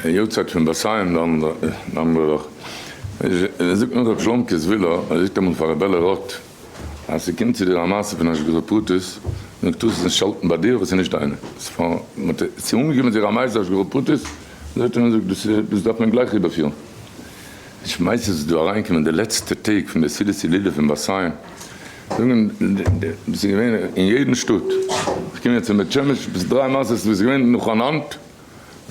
יארצייט פון באסיין די אנדערע וואך, זאגט נאך רב שלום קעזווילא, ער זאגט אמאל פאר רב בעלער רוט, אז ס'קומט צו דיר א מעשה פון השגחה פרטית, נו טוה עס נישט האלטן ביי דיר, ווייל ס'איז נישט דיינע, ס'איז אנגעקומען צו ר' מאיר'ס השגחה פרטית, זאגט ער, נו זאג, דאס דארף מען גלייך איבערפירן. די שמייס איז דא אריינגעקומען די לעצטע טעג פון די סעודת הילולא פון באסיין, זאגן וואס איז געווען אין יעדן שטאט, כ'קום יעצט פון בית שמש, ביז דריי מעשות וואס איז געווען נאכאנאנד,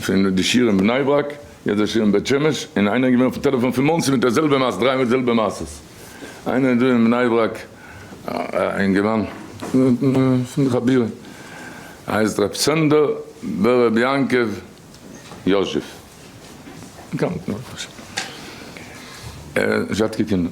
פון די שיעור אין בני ברק, יעצט די שיעור אין בית שמש, און איינער איז געווען אויפן טעלעפאן פון מאנסי מיט די זעלבע מעשה, דריי מאל די זעלבע מעשות, איינער איז דא אין בני ברק, א אינגערמאן, פון חבירים, הייסט ר' סענדער בן ר' יעקב יאזשעף, באקאנט, זשאטקע קינדער.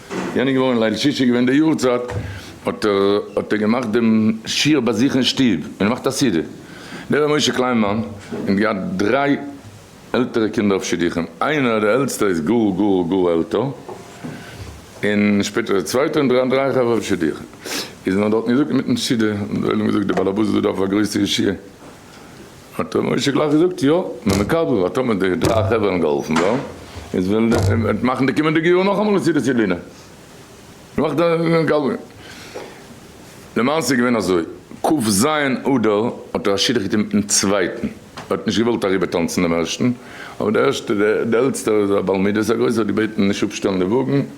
יענע איז געווארן ליל שישי געווען די יארצייט האט ער האט ער געמאכט דעם שיעור ביי זיך אין שטוב און ער מאכט א סעודה דער ר' משה קליינמאן האט געהאט דריי עלטערע קינדער אויף שידוכים איינער די עלטסטער איז גאר גאר גאר עלטער און שפעטער די צווייטע און דריי דריי חברה אויף שידוכים איז מען האט דארטן געזאגט אינמיטן סעודה האט ער געזאגט די בעל הבית דא דארף א גרויסע ישיבה. האט ר' משה גלייך געזאגט יא מען מקבל ווייל טאמער די דריי חברה האבן געהאלפן דא איז וועלן די מאכן די קומענדיגע יאר נאכאמאל א סעודת הילולא נאך די מקבל למעשה איז געווען אזוי כ ז אדר האט ר' שידוך געטון מיטן צווייטן ער האט נישט געוואלט אריבער טאנצן דעם ערשטן אבער די ערשטע די עלטסטער איז א בעל מידות א גרויסער האט געבעטן נישט אפשטעלן די וואגן.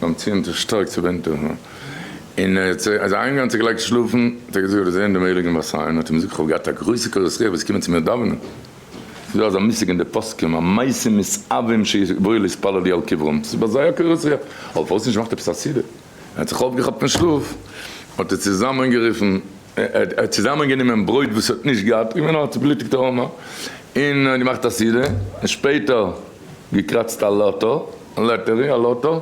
ביים ציון האט ער שטארק צוביינט אהן און ער האט זיך איינגאנצן געלייגט שלאפן, האט ער געזאגט ער האט געזען דעם הייליגן באר סיין האט אים געזאגט כ'האב געהאט א גרויסע קורת רוח וועסט קומען צו מיר דאווענען? ס'איז דא אזא מושג אין די פוסקים המתים מסאבים שיבואו להתפלל לי על קברם, ס'איז ביי זיי א קורת רוח, אבער פארוואס נישט געמאכט עפעס א סידור, ער האט זיך אויפגעכאפט פון שלאף האט ער צוזאמען גערופן ער האט צוזאמען גענומען ברויט וואס ער האט נישט געהאט, געווען א צובלוטיגטער ארמער, און ער האט געמאכט א סידור, און שפעטער. געקראצט א לאטא לאטערי א לאטא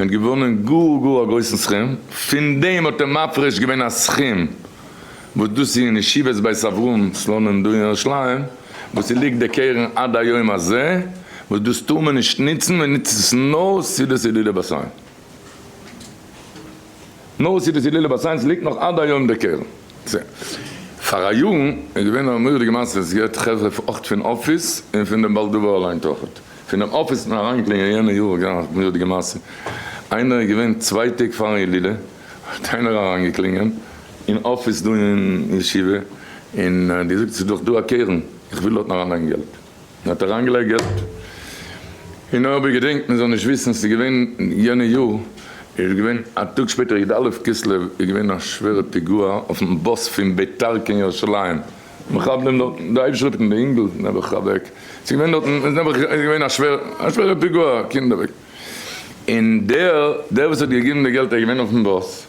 און געוואונען גאר גאר א גרויסן סכום, פון דעם האט ער מפריש געווען א סכום וואס דאס איז אין ישיבת בית אברהם סלונים דא אין ירושלים וואס עס ליגט די קרן עד היום הזה, וואס דאס טאר מען נישט נוצן, מען נוצט עס נאר סעודת הילולא באסיין. נאר סיטיס הילולא ביי סייענס ליגט נאך עד היום דער קרן. פארא יארן איז געווען א מורא'דיגע מעשה וואס געהערט חברה אויך פון אפיס און פון דעם בעל דבר אליין תחת פונעם אפיס און אריינקלינגען יענע יאר איז געווען א מורא'דיגע מעשה איינער איז געווען צוויי טעג פארן הילולא האט איינער אריינגעקלינגען אין אפיס דא אין ישיבה און געזאגט ס'איז דאך דא א קרן איך וויל דארטן אריינלייגן געלט. און האט אריינגעלייגערט און אויב איר געדענקט מען זאל נישט וויסן ס'איז געווען יענע יאר איז געווען א טאג שפעטער י ד אלף כסלו איז געווען א שווערע פיגוע אויפן באס פון ביתר קיין ירושלים מחבלים דארטן די אויפשריפט און די אינגל נעבעך אוועק ס'איז געווען דארטן איז נעבעך איז געווען א שווער א שווערע פיגוע קינד אוועק און דער דער וואס האט געגעבן די געלט איז געווען אויפן באס.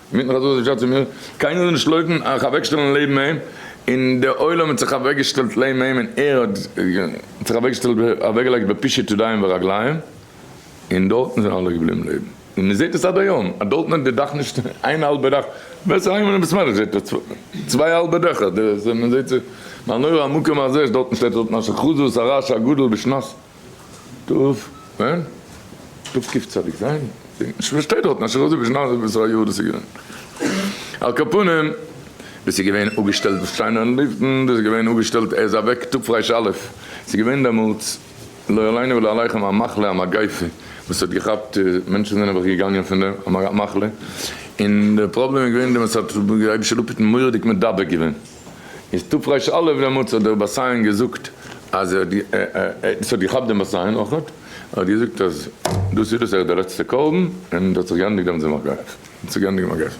מיט מיך אזוי האט ער געשאצט צו מיר, קיינער זאל נישט לויפן אייך אוועקשטעלן לעבן אים, און דער עולם האט זיך אוועקגעשטעלט לעבן אים און ער האט זיך אוועקגעשטעלט אוועקגעלייגט בפישוט ידיים ורגליים, און דארטן זענען אלע געבליבן לעבן, און מען זעט עס עד היום, אז דארטן האט די דאך נישט איין האלבע דאך, ווער ס'איז אהיים אין בית מדרש זעט ער צוויי האלבע דעכער, מען זעט זיך, מה נורא המקום הזה, דארטן שטייט ר' מנשה חזות הרש הגדול בשנת. טוב, ווען? טוב ק צדיק ז? שוין שטייט דארטן אשר אזוי ווי שנת וואס א יאר דאס איז געווען. על כל פנים, דאס איז געווען אפגעשטעלט דאס שיינע אין לופטן, דאס איז געווען אפגעשטעלט ער איז אוועק תרפ ר א', ס'איז געווען דעמאלטס לא עלינו ולא עליכם א מחלה א מגיפה וואס האט געכאפט, מענטשן זענען אוועך געגאנגען פון דעם, א מחלה, און דער פראבלעם איז געווען דעם אז ס'האט רבי שלום פיטן מורא'דיג מדבק געווען. איז תפ' ר' אלף דעמאלטס האט דער בת סיון געזאגט אז ער האט עס האט געכאפט דעם בת סיון אויך האט ער געזאגט אז דאס איז דאס ער איז דער לעצטע קרבן און דאס האט זיך געענדיגט דעמאלטס דעם מגפ האט זיך געענדיגט דעם מגפ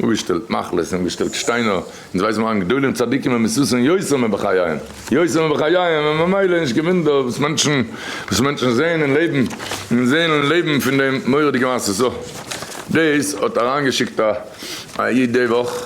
אנגעשטעלט מחלות אנגעשטעלט שטיינער אונז ווייסן מיר אן גדולים צדיקים און מסוסים יוסר מ בחייהם יוסר מ בחייהם און ממילא נישט קיין ווינדער וואס מענטשן וואס מענטשן זעהן און לעבן און זעהן און לעבן פון דעם מורא'דיגע מעשה סא דאס האט אריינגעשיקט א א איד די וואך.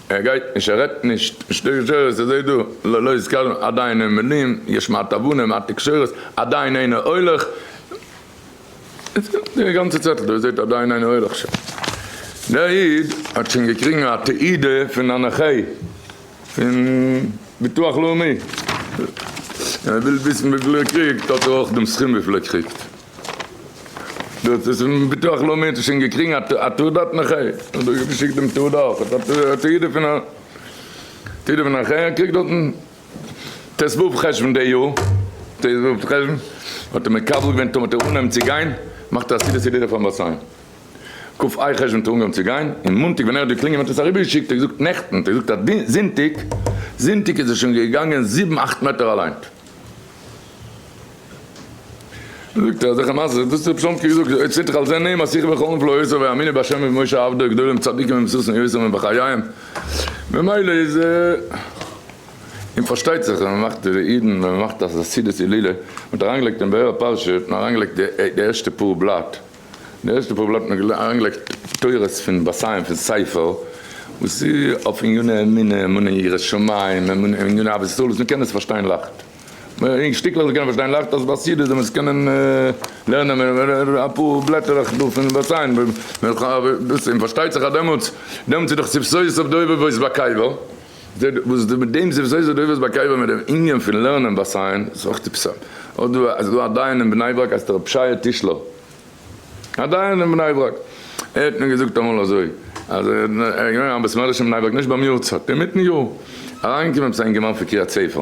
ער גייט נישט ער רעדט נישט נישט די גזירות ער זעהט דא לא לא יזכרון עדיין אין מילים יש מעט הבנה מעט תקשורת עדיין אינו הולך די גאנצע צעטל דא זעהט עדיין אינו הולך ש דער איד האט שוין געקריגן א תעודה פון הנחה פון ביטוח לאומי און ער וויל וויסן וויפיל ער קריגט האט ער אויך דעם סכום וויפיל ער קריגט. דאס איז פון ביטוח לאומי האט ער שוין געקריגן א תעודה האט נכה און דא איז געשיקט דעם תעודה אויך האט א תעודה פון א תעודה פון א נכה ער קריגט דארטן ט ו חשוון די יאר ט ו חשוון האט ער מקבל געווען טאמער האט ער אנגעהויבן צו גיין מאכט ער א סידור סעודה פארן באר סיין ק א חשוון האט ער אנגעהויבן צו גיין און מאנטאג ווען ער האט געקלינגען האט ער עס אריבער געשיקט ער זאגט נעכטן ער זאגט אז זונטאג זונטאג איז ער שוין געגאנגען זיבן אכט מעטער אליינט. זאגט ער אזעלכע מעשה'ס, דאס האט רבי שלום קוק געזאגט, אויב ס'טוט זיך על זה נעים אז שיחו וחלום פלא יעשו ויאמינו בהשם ובמשה עבדו גדולים צדיקים ומסוסים יעשו מן בחייהם ממילא איז און פארשטייט זיך אז מ'מאכט די אידן ווען מ'מאכט א חסידות הילולא, מ'האט אריינגעלייגט אין באר הפרשה האט מען אריינגעלייגט די ערשטע פאר בלאט, די ערשטע פאר בלאט האט מען אריינגעלייגט תורות פון בת חיים פון ספר וואס איז אויף עניני אמונה, אמונה אין יראת שמים, אמונה אין עניני אהבת ישראל וואס מ'קען עס פארשטיין לייכט. אין שטיקלעך זיי קענען פארשטיין לייכט אז ביי סידי זאל מען עס קענען לערנען מער אפאר בלעטערלעך דא פון וואס איין דאס און פארשטייט זיך אז דעמאלטס דעמאלטס איז דאך סבסויות אויף די אויבער וואויס ביי קאיווא וואס מיט דעם סבסויות אויף די אויבערס ביי קאיווא מיט דעם ענין פון לערנען ביי סיין איז אויך טיפסאם אויב דא איז דא א דיין אין בני ברק הייסט ער רבי שייע טישלער א דיין אין בני ברק ער האט מיר געזאגט אמאל אזוי אז ער איז געווען א בית מדרש אין בני ברק נישט ביים יארצייט אינמיטן יאר אריינגעקומען עפעס א אינגערמאן פון קריית ספר.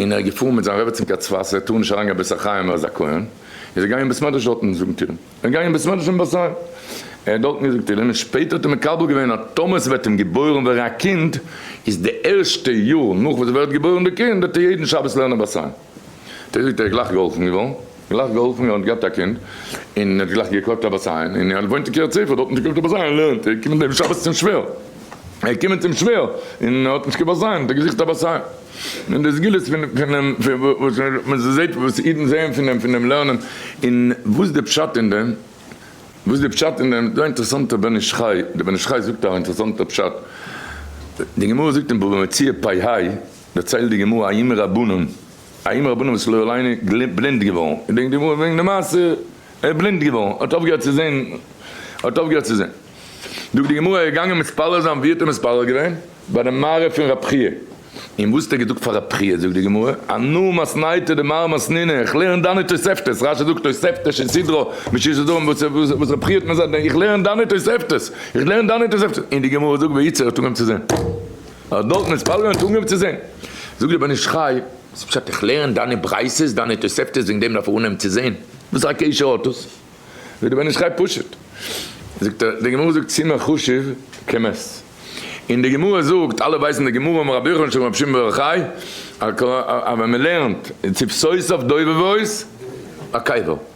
און ער איז געפארן מיט זיין רעבעצין קיין צפת, ער טאר נישט אריינגיין בית החיים ער איז א כהן, איז ער געגאנגען אין בית מדרש דארטן זאגן תהילים, ער איז געגאנגען אין בית מדרש אין בית החיים, ער האט דארטן געזאגט תהילים, און שפעטער האט ער מקבל געווען אז טאמער ס'וועט אים געבוירן ווערן א קינד, איז די ערשטע יאר נאך וואס ס'ווערט געבוירן די קינד, וועט ער יעדן שבת לערנען בית החיים, און ער זאגט ער איז גלייך געהאלפן געווארן. גלייך געהאלפן ער האט געהאט א קינד און ער האט גלייך געקאלט א באסיין און ער וואוינט אין קרית ספר דארט האט ער געקאלט א באסיין לערנט ער קומען דעם שבת צום שווער ער קומען צום שווער און האט נישט קיין באסיין האט ער געזוכט א באסיין און די סגולות פון פונעם וואס מען זעהט וואס אידן זעהען פון דעם פון דעם לערנען און וואס די פשט אין דעם וואס די פשט אין דעם דא א אינטערעסאנטע בן איש חי די בן איש חי זאגט א אינטערעסאנטע פשט די גמרא זאגט אין בבא מציעא פ ה דערציילט די גמרא א ימי רבנן. האם רבנו וואס לא עלינו בלינד געווארן, געדענקט די גמרא וועגן די מעשה, ער איז בלינד געווארן, האט אויפגעהערט צו זען, האט אויפגעהערט צו זען, זאגט די גמרא, ער איז געגאנגען מתפלל זיין, ווי האט ער מתפלל געווען? ביי די מערה פון רב חייא, און וואס האט ער געזאגט פאר רב חייא, זאגט די גמרא, אנא מסניתא דמר מסנינא, איך לערן דאנע תוספתות, רשי זאגט תוספתא שסדרא מששת הדורות, וואס רב חייא האט מיר געזאגט, איך לערן דאנע תוספתות, איך לערן דאנע תוספתות, און די גמרא זאגט וייצא, ער האט אנגעהויבן צו זען. אויך דארט מען ספאלגען און טראגען אויף צו זעהן. זאג דיר בן איש חי, וואס פשט איך לערן דיינע ברייתות דיינע תוספתות וועגן דעם דארף איך אנהייבן צו זעהן? וואס א קשר האט עס? זאג דיר בן איש חי פשוט זאגט ער די גמרא זאגט סימן חשוב כמת און די גמרא זאגט אלע ווייסן די גמרא אמר רבי יוחנן שלום רבי שמעון בר יוחאי אז ווען מען לערנט צו סוף סוף דובבות א קבר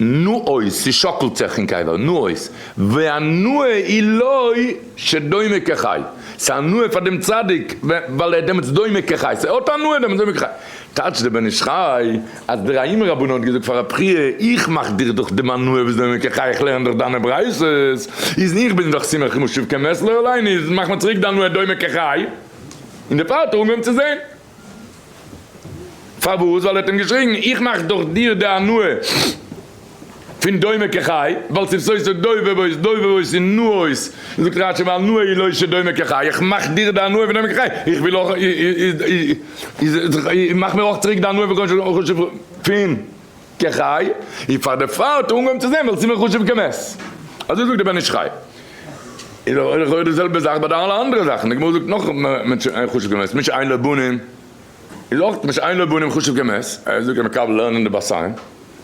נו אויס, ס'שאקלט זיך אין קבר, נו אויס, והנאה היא לו שדומה כחי, ס'הנאה פאר דעם צדיק ווייל ער איז דעמאלטס דומה כחי, ס'האט הנאה דעמאלטס דומה כחי, טייטש דער בן איש חי אז דער האימא רבנן האט געזאגט פאר רבי חייא, איך מאך דיך דאך דעם הנאה וואס דומה כחי, איך לערן דאך דיינע ברייתות, איז איך בין דאך שמח כמו שוב כמת, לא עלינו, איז מאך מיר צוריק די הנאה דומה כחי, און דערפאר האט ער אנגעהויבן צו זען. פארוואס? ווייל ער האט אים געשריגן, איך מאך דאך דיר די הנאה פון דומה כחי, ווייל ס'איז סוי סוי דוי ווויס דוי ווויס און נא אויס, זאגט רשי והנאה היא לא שדומה כחי, איך מאך דיר די הנאה פון דומה כחי, איך וויל אויך איז איז איז מאך מיר אויך צוריק די הנאה פון חשוב פון. כחי, און פאר די פרוי האט ער אנגעהויבן צו זען וועלכע סימן חשוב כמת. אזוי זאגט דער בן איש חי. איז דאך אויך לכאורה די זעלבע זאך ביי די אלע אנדערע זאכן, די גמרא זאגט נאך מען חשוב כמת, מי שאין לו בנים איז אויך מי שאין לו בנים חשוב כמת, ער זאגט ער מקבל לערנען די בת עין,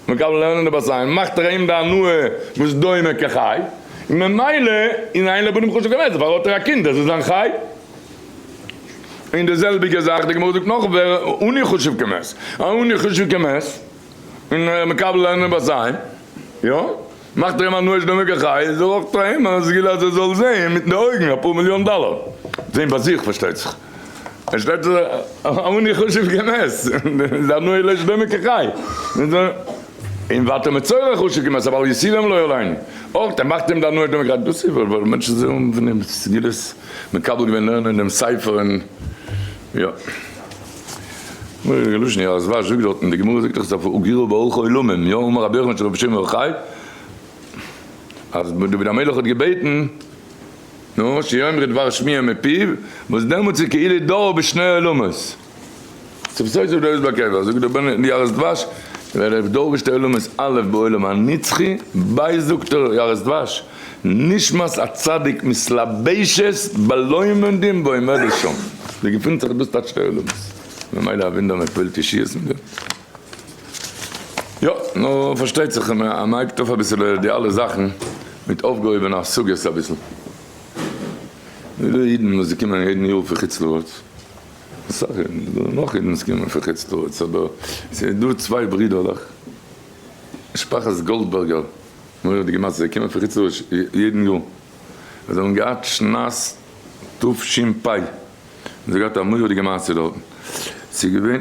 מקבל לערנען די בת עין מאכט ער אים די הנאה וואס דומה כחי, ממילא איז אין לו בנים חשוב כמת, דערפאר האט ער א קינד, דאס איז זיין חי. און די זעלביגע זאך די גמרא זאגט נאך ווער אני חשוב כמת, א אני חשוב כמת און ער מקבל לערנען ביי זיי יא מאכט ער אים א נואש דעם הוגה חי איז ער אויך פאר אים א סגולה אז ער זאל זעהן מיטן די אויגן אפאר מיליאן דאלער זעהן ביי זיך פארשטייט זיך ער שטייט א אני חשוב כמת איז א נואש דעם הוגה חי. און ואתה מצורע חשק עם עשיו אל יסירם לו אליין אויך ער מאכט אים די הנאה דעם גרייט דאס איז וואס רוב מענטשן זעהן פון אים סגולות מקבל געווען לערנען דעם ספר און יא מורא'דיגע לשון יא אזוואש זאגט דארטן די גמרא זאגט דאך סוף הוגרו באורך העולמים יא אמר רבי יוחנן של רבי שמעון בר יוחאי אז דוד המלך האט געבעטן נו שיאמרו דבר שמיעה מפיו וואס דעמאלטס איז כאילו דור בשני עולמות. צום סוף זאגט דער רבי עקיבא, זאגט דער בן יערות דבש, ווער איך דורש די עולם איז א' בעולם הנצחי, ב' זאגט דער יערות דבש, נשמת א צדיק מתלבשת בלא עומדים ועומדת שם, דא געפינט זיך דאס טייטשט די עולם, ממילא א וואונדער מען פועלט ישועות מיט דעם. יא, נו פארשטייט זיך אז מען הייבט אויף אביסעלע די אלע זאכן מיט אויפגעהויבענע השגות אביסל, ווידער אידן וואס זיי קומען יעדן יאר פון חוץ לארץ, אסאך אידן, עס זאלן נאך אידן קומען פון חוץ לארץ, אבער עס איז דא צוויי ברידערלעך, משפחת גאלדבערגער, מורא'דיגע מעשה, זיי קומען פון חוץ לארץ יעדן יאר, זיי האבן געהאט שנת תשפ א, און זיי האבן געהאט א מורא'דיגע מעשה דארטן, עס איז געווען.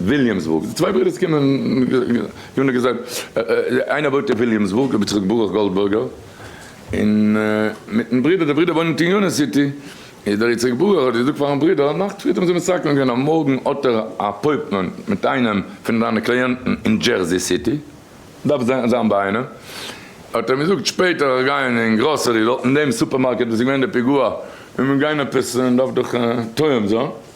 וויליאמסבורג, די צוויי ברודערס קומען, ווי נאר געזאגט, איינער וואוינט אין וויליאמסבורג, רבי יצחק ברוך גאלדבערגער, און מיטן ברודער, די ברודער וואוינט אין יוניאן סיטי, איז דער יצחק ברוך האט געזאגט פארן ברודער, נאכט פריערט האבן זיי מסכם געווען אז מארגן האט ער א אפויפמענט מיט איינעם פון זיינע קלייענטן אין דזשערזי סיטי, דארף זיין ביי איינעם, האט ער אים געזאגט שפעטער איך גיי אין גראסערי דארט אין דעם סופערמארקעט וואס איז געווען די פיגוע, און מיר גיין עפעס, און דארף דאך תואם זיין.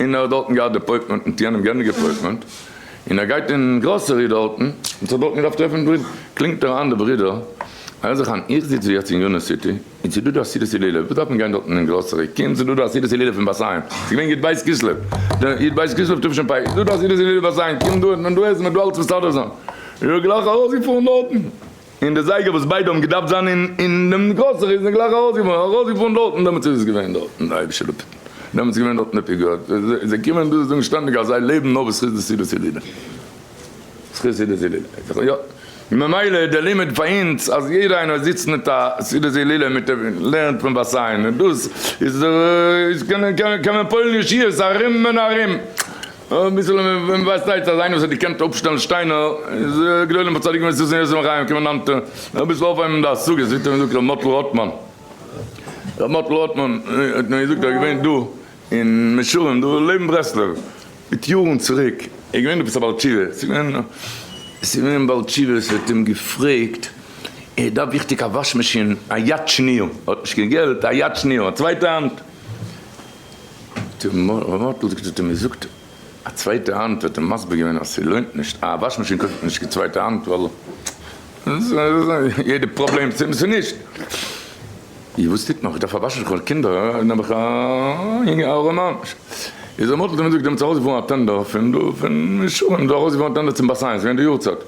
און ער האט דארטן געהאט דעפויטמענט מיט יענעם גענדיגט דעפויטמענט און ער גייט אין גראסערי דארטן און ס'האט דארטן געדארפט טרעפן ברידער קלינגט ער איין די ברידער הער זיך איין איך זיץ ווי יעצט אין יוניאן סיטי און ס'דא דא א סעודת הילולא וואס דארף מען גיין דארטן אין גראסערי קום ס'דא דא א סעודת הילולא פון בת ים ס'איז געווען יו ט בית כסלו די יו ט בית כסלו תשפ ה איז דא דא א סעודת הילולא אין בת ים קום דא האט מען דא עסן מען האט דא אלץ מסדר זיין און ער איז גלייך ארויסגעפארן דארטן. און די זייגער וואס ביידע האבן געדארפט זיין אין דעם גראסערי זענען גלייך ארויסגעפארן ארויסגעפארן דארטן דעמאלטס איז עס געווען דארטן די היימישע לופט דעמאלטס איז געווען דארטן די פיגור זיי קומען דא זאגן שטענדיג אז זיי לעבן נאר בזכות די סעודת הילולא בזכות סעודת הילולא יא ממילא די לימוד פאר אונז אז יעדער איינער זיצט מיט א סעודת הילולא מיט לערנט פון בת עין און דאס איז איז קען מען פועל'ן ישועות ארום און ארום. אביסל ווען ווייסט אייך אז איינער וואס האט געקענט אפשטעלן שטיינער איז גדולים וצדיקים וואס זיצן יוסף חיים קומען נאנטע אביסל אויפהייבן די השגות ווי האט געזאגט רבי מאטל רוטמאן רבי מאטל רוטמאן האט מיר געזאגט ער איז געווען דא אין מישרים דא לעבן ברסלב מיט יארן צוריק ער איז געווען עפעס א בעל תשובה עס איז געווען א בעל תשובה וואס האט אים געפרעגט ער דארף וויכטיג א וואש מאשין א יד שנייה ער האט נישט קיין געלט א יד שנייה א צווייטע האנט ר' מאטל זאגט האט ער מיר געזאגט א צווייטע האנט האט ער מסביר געווען אז ס'לוינט נישט א וואש מאשין קויפט מען נישט קיין צווייטע האנט ווייל יעדע פראבלעם צו עס נישט איר וואס טוט מען כ'דארף א וואש מאשין כ'האב קינדער און האב איך א יונגע ארעמע מאנש איז ר' מאטל האט ער מיר געזאגט זיי האבן צו ארויסגעפארן א טענדער פון דא פון ישורון זיי האבן ארויסגעפארן א טענדער צום באסיין ס'איז געווען די יארצייט.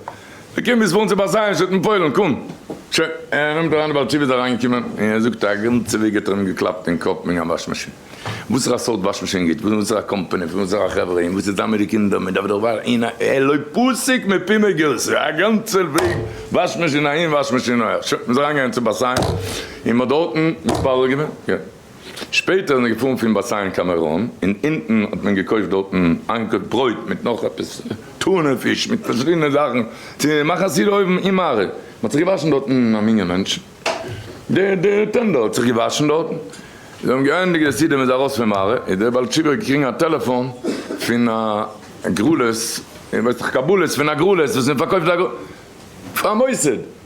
ער קומט ביז פארן צו באזיי שטאט אין פוילן, קום! שוין, ער נעמט אריין די בעל תשובה איז אריינגעקומען און ער זאגט א גאנצע וועג האט ער אים געקלאפט אין קאפ וועגן א וואש מאשין, וואסערע סארט וואש מאשין גוט, פון וואסערע קאמפאני, פון וואסערע חברה, און וואס איז דן מיט די קינדער, מען דארף דאך וואר אין א ער לא פסיק מפי מגרסא, א גאנצע וועג וואש מאשין אהין וואש מאשין אהער, שוין, מען איז אריינגעגאנגען צו באזיי און מען האט דארטן מתפלל געווען, יא. שפעטער איז מען געפארן פון באסיין קיין מירון, און אונטן האט מען געקויפט דארטן איין קויפ ברויט מיט נאך עפעס טונא פיש מיט פארשידענע זאכן צו מאכן א סעודה אויבן אין מערה, מען האט זיך געוואשן דארטן א מנין מענטש, די די טענדער האט זיך געוואשן דארטן, זיי האבן געענדיגט די סעודה מען איז ארויס פון מערה, איז דער בעל תשובה געקריגן א טעלעפאן פון א גרלות, איך ווייס נאך קבלות פון א גרלות וואס מען פארקויפט א פאר א מוסד.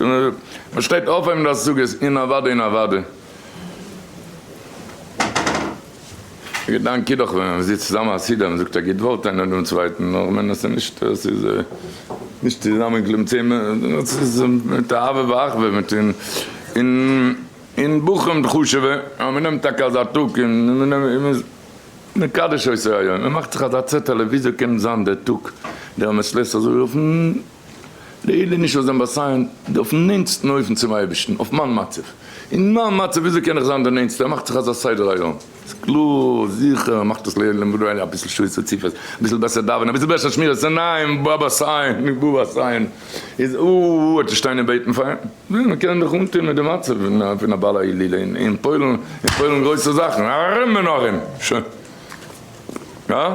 מען שטייט אויפהייבן די השגות אין אוואדע אין אוואדע. א געדאנק איז דאך ווען מען זיצט צוזאמען חסידים זאגט א גוט ווארט איינער דעם צווייטן אויך ווען עס איז נישט עס איז נישט צוזאמענקלעבן צען עס איז מיט אהבה ואחווה מיט און און און בחורים חשוב'ע אז מען נעמט טאקע אזא טאג און מען נעמט און מען מקדש אויס אייער יום מען מאכט זיך אזא צעטעלע וויאזוי קען זיין דער טאג דער מען שלעסט אזוי אויפן די איד איז נישט אויף זיין באסיין, די אויפן נענטסטן אופן צום אייבערשטן, אויף מיין מצב, אין מיין מצב וויאזוי קען איך זיין די נענטסטע, ער מאכט זיך אזא סדר היום, ס'איז קלאר, זיכער, ער מאכט עס לעילא ולעילא, אביסל שעות רצופות, אביסל בעסער דאווענען, אביסל בעסער שמירת עיניים, בא באסיין, נישט בא באסיין, איז או או אטע שטיין און בעטן פאר אים, וויאזוי מען קען זיך אנטון מיט די מצב פון א בעל העלי' אין פוילן, אין פוילן גרויסע זאכן, ארום און ארום, שוין, הא?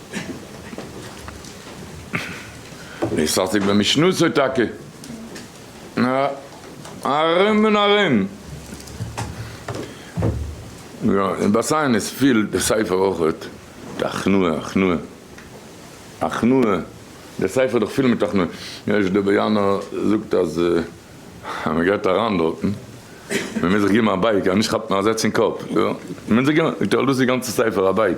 איז פארטיג מיט משנתו טאקע. ארום און ארום. יא, און ביי סיינעס פילט די ספר אויך די הכנעה, הכנעה, הכנעה, די ספר איז דאך פול מיט הכנעה. ר' דובעיאנא זאגט אז מען גייט אריין דארטן, מען מוז זיך געבן א בייג אז נישט כאפט מען א זעץ אין קאפ. מען מוז זיך געבן, זאגט ער, דאס איז די גאנצע ספר א בייג.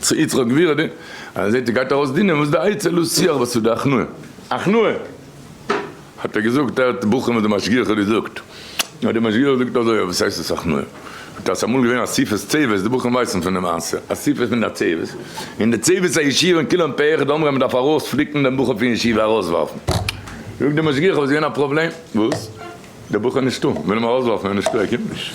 צו יצחק גביר די אז ער זעהט ער גייט ארויס דינען וואס די עצה לא שיח וואס איז די הכנעה הכנעה האט ער געזאגט ער האט בוחרים וואס די משגיח האט געזאגט האט די משגיח געזאגט אזוי אבער וואס הייסט עס הכנעה האט אז אמאל געווען אסיפת צוות די בוחרים ווייסן פון די מעשה אסיפה פון די צוות און די צוות הישיבה און כולם פה אחד אמרו אז מען דארף ארויס פליקן דעם בחור פון ישיבה ארויס ווארפן זאגט די משגיח אבער עס איז געווען א פראבלעם וואס די בחור איז נישטא מען וויל אים ארויס ווארפן ער איז נישטא ער קומט נישט.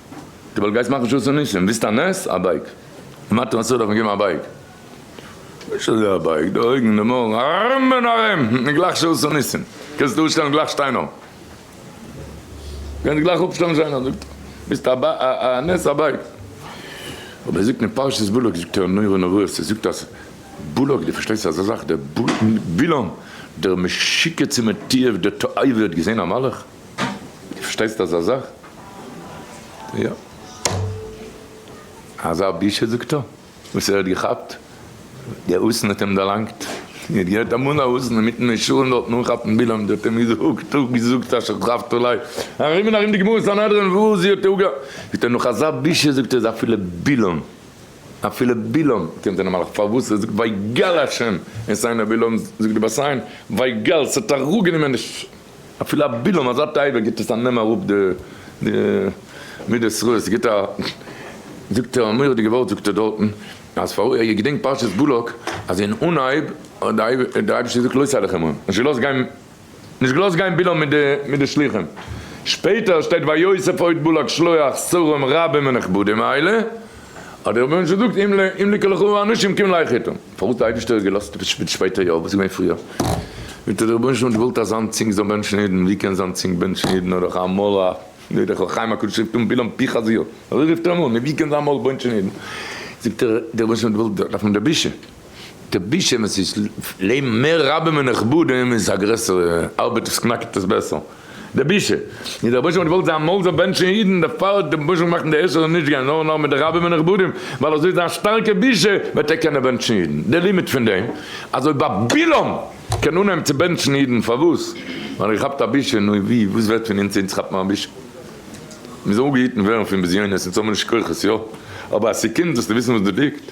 די בייק גייסט מאכן שעות און ניסים, ווילסט א נס? א בייק! מתן הסעודה האט מיר געגעבן א בייק, נישט אזוי א בייק, די אויגן, די מויל, ארום און ארום, און גלייך שעות און ניסים, קענסט אויסשטעלן גלייך שטיינער, קענסט גלייך אפשטעלן שטיינער, זאגט ער, ווילסט א נס? א בייק! אבער ער זאגט אין פרשת בלק זאגט ער נורא נוראות, ער זאגט אז בלק, דו פארשטייסט אזא זאך, דער בלעם, דער משוגע צום תועב, דער תועבה האט געזען א מלאך? די פארשטייסט אזא זאך? יא. אזא בושה זאגט ער וואס ער האט געכאפט, די אוזן האט אים דערלאנגט, ער האט געהערט אמאל א אוזן אינמיטן משלים דארטן אנכאפן בלעם, זי האט אים געזאגט אפגעזאגט אשר טרייבט אולי ארום און ארום די גמרא סנהדרין וואו זי האט אפגע. זאגט ער נאך אזא בושה זאגט ער איז אפילו בלעם, אפילו בלעם, האט אים זיין מלאך פארוואס, ער זאגט ויגל השם את עיני בלעם, זאגט די בת עין ויגל, ס'האט אראפגענומען די. אפילו א בילעם אזא טייבער גיבט עס א נעם אראפ די מידות רעות עס גיבט א זאגט ער א מורא'דיגע ווארט זאגט ער דארטן אז פאר איך געדענק פרשת בלק אז אין אנהייב האט די אייבערשטער געזאגט לא סלח עמהם נישט געלאזט גיין נישט געלאזט גיין בילעם מיט די שלוחים שפעטער שטייט ויוסף עוד בלק שלוח שרים רבים ונכבדים האלה האט דער רבונו של עולם געזאגט אם לי קלכהו אנשים קום לייך איתם. פארוואס די אייבישטער האט געלאזט עפעס שפיץ שפעטער יאר וואס איז געווען פריער? וועט דער רבונו של עולם געוואלט אז זיין צינג זאל בענטשן אידן, ווי קען זיין צינג בענטשן אידן נאר דורך א מויל א נאר דורך אור חיים הקדוש רופט אן בלעם פי חזיר אזוי רופט ער אים אן, ווי קען זיין מויל בענטשן אידן? זאגט ער דער רבונו של עולם האט געוואלט דארף מען דער בושה, דער בושה ווען ס'איז לב מער רבים ונכבדים איז א גרעסערע ארבעט עס קנאקט עס בעסער. די בושה איז דער רבושע האט געוואלט זיין מויל זאל בענטשן אידן דערפאר האט די רבושע געמאכט די איסור נישט גיין נאר נאר מיט די רבים הנכבדים ווייל אזוי זיין שטארקע בושה וועט ער קענען בענטשן אידן די לימיט פון דעם אז אויב א בלעם קען אנהייבן צו בענטשן אידן פארוואס ווייל ער געכאפט א בושה נו ווי וואס ווערט פון אונז אונז כאפן א בושה מיר זאלן אנגעהיטן ווערן פון בזיונות אונז האבן נישט כוחות יא אבער אז ס'קומט זאלסטו וויסן וואס דא ליגט.